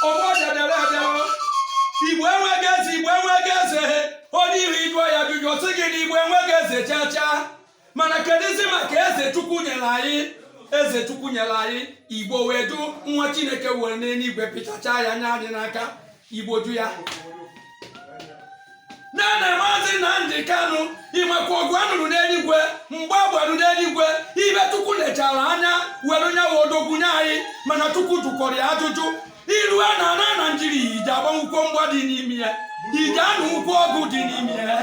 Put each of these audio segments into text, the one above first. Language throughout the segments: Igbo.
ọgbọ bịadere abịawo igbo enweghị eze igbo enweghị eze onye ị hụ ị jụọ ya ajụjụ ọ sị gị na igbo enweghị eze chaa chaa mana kedụzi maka eze chukwu nyere anyị eze chukwu nyere anyị igbo wee jụ nwa chineke were n'eluigwe pịchachaa ya nye anyị n'aka igbo jụ ya nene maazị Nnamdi Kanu ị makwa ọgụ a nụrụ n'eluigwe mgba a gbarụ n'eluigwe ibe Chukwu lechara anya were nya wụ odogwu nye anyị mana Chukwu jụkwara ya ajụjụ ị rue n'ana Naịjirịa ị je agbanwukwo mgba dị n'ime ya ị je anụwukwo ọgụ dị n'ime ya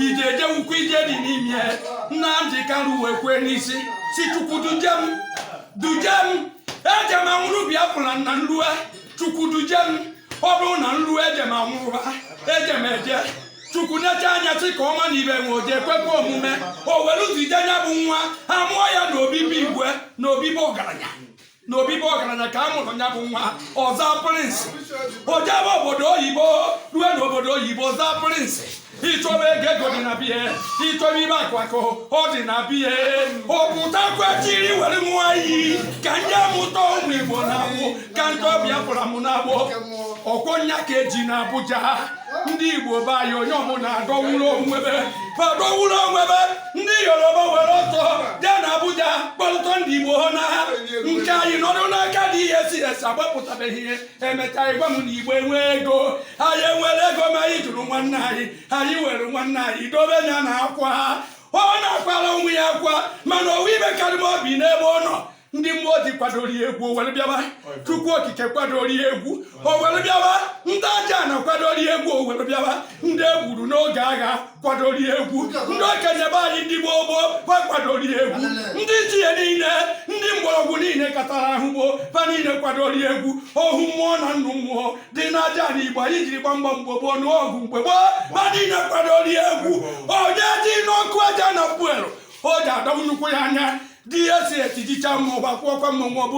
ị je ejewukwo ije dị n'ime ya Nnamdi Kanu wee kwee n'isi sị Chukwu duje m duje m eje m anwụrụ Biafra na m rue chukwu duje m ọ bụrụ na m ruo eje m anwụrụ ba eje m eje chukwu nechaa anya sị ka ọ ma na ibe nwe o je ekwekwa omume o were zije nya bụ nwa a mụọ ya na obi be igwe na obi be ọgaranya na obi be ọgaranya ka a mụrụ ya bụ nwa ọ za prịnsị o jebe obodo oyibo rue n'obodo oyibo ọ za prịnsị ị chọba ego ego dị na be ya ị chọba ibe akụ akụ ọ dị na be ya ọ pụtakwa chịrị were nwanyị ka nya mụta ụmụ igbo na-abụ ka m tọọ biafra mụ n'agbụ ọ kwa nya ka e ji na abuja ndị igbo be anyị onye ọbụla adọwụrụ onwebe adọwụrụ onwebe ndị yoruba were ọtọ bịa na abuja kwụrụ ọtọ ndị igbo ha na ha nke anyị nọdụ n'aka dị ihe si esi agbapụtabeghị ihe emechaa ị gwa m na igbo enwe ego anyị enwere ego ma anyị jụrụ nwanne anyị anyị were nwanne anyị dobe ya na akwa ọ na-akwara onwe ya akwa mana o nwe ibe karị m obi n'ebe ọ nọ ndị mmụọ ozi kwadoro ya egwu o were bịaba chukwu okike kwadoro ya egwu o were bịaba ndị ajana kwadoro ya egwu o were bịaba ndị e gburu n'oge agha kwadoro egwu ndị okenye be anyị ndị gboo gboo fa kwadoro egwu ndị ichie niile ndị mgbọrọgwụ niile katara ahụ gboo fa niile kwadoro egwu ohu mmụọ na nnụ mmụọ dị n'ajana igbo anyị jiri gba mgba mgbe gboo nụọ ọgụ mgbe gboo fa niile kwadoro egwu onye dị n'ọkụ aja na puelu o ji adọgbu nnukwu ya anya di ya si etijicha mmụọ gbakwụọkwa mmụọ ọ bụrụ